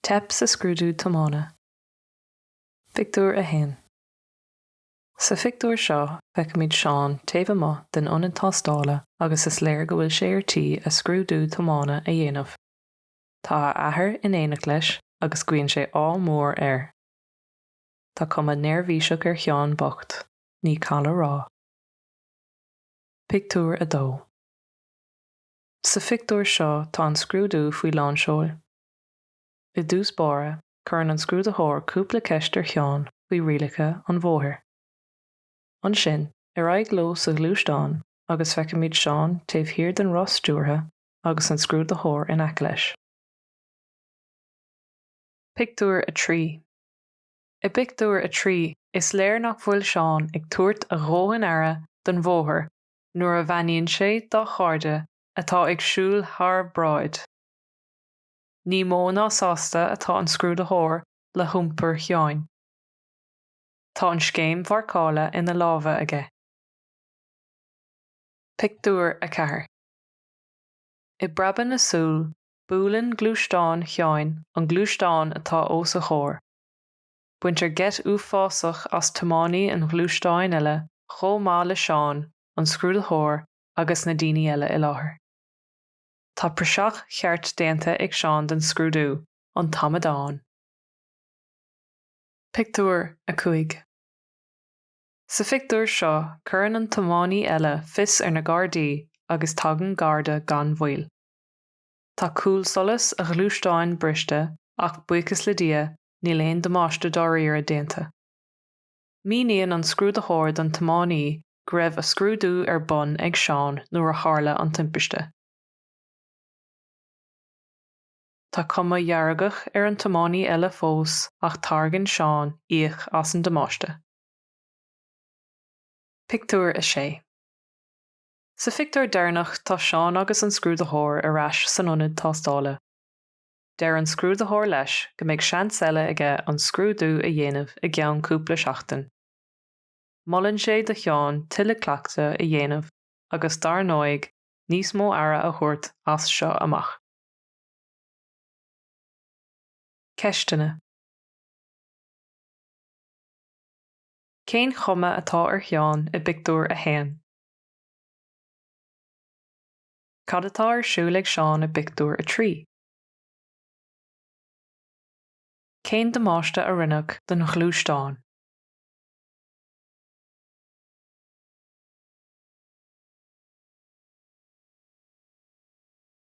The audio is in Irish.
Teip sa scrúdú tiomána. Pictiúr 1 Sa phictiúr seo, feicimid Seán taobh amuigh den ionad tástála agus is léir go bhfuil sé ar tí a scrúdú tiomána a dhéanamh. Tá a athair in éineacht leis agus guíonn sé ádh mór air. Tá cuma neirbhíseach ar Sheán bocht. ní call a rá. Pictiúr 2 Sa phictiúr seo tá an scrúdú faoi lán seoil. I dtús báire, cuireann an scrúdaitheoir cúpla ceist ar Sheán faoi rialacha an bhóthair. Ansin, ar aghaidh leo sa ghluaisteán agus feicimid Seán taobh thiar den roth stiúrtha agus an scrúdaitheoir in aice leis. Pictiúr 3 I bpictiúr a trí, is léir nach bhfuil Seán ag tabhairt a dhóthain aire don bhóthar nuair a bheannaíonn sé dá chairde atá ag siúl thar bráid. Ní mó ná sásta atá an scrúdaitheoir le hiompar Sheáin. Tá an scéim mharcála ina lámha aige. Pictiúr 4 I bpreabadh na súl, buaileann gluaisteán Sheáin an gluaisteán atá os a chomhair. Baintear geit uafásach as tiománaí an ghluaisteáin eile chomh maith le Seán, an scrúdaitheoir agus na daoine eile i láthair. Tá praiseach cheart déanta ag Seán den scrúdú, an t-amadán! Pictiúr 5 Sa phictiúr seo cuireann an tiománaí eile fios ar na Gardaí agus tagann Garda gan mhoill. Tá cúlsolas a ghluaisteáin briste ach buíochas le Dia níl aon damáiste dáiríre déanta. Míníonn an scrúdaitheoir don tiománaí go raibh a scrúdú ar bun ag Seán nuair a tharla an timpiste. Tá cuma fheargach ar an tiománaí eile fós ach tairgeann Seán íoc as an damáiste. Pictiúr 6. Sa phictiúr deireanach tá Seán agus an scrúdaitheoir ar ais san ionad tástála. Deir an scrúdaitheoir leis go mbeidh seans eile aige an scrúdú a dhéanamh i gceann cúpla seachtain. Molann sé do Sheán tuilleadh cleachtaidh a dhéanamh agus, dar ndóigh, níos mó aire a thabhairt as seo amach. Ceisteanna Cén chuma atá ar Sheán i bpictiúr a haon? Cad atá ar siúl ag Seán i bpictiúr a trí? Cén damáiste a rinneadh don ghluaisteán?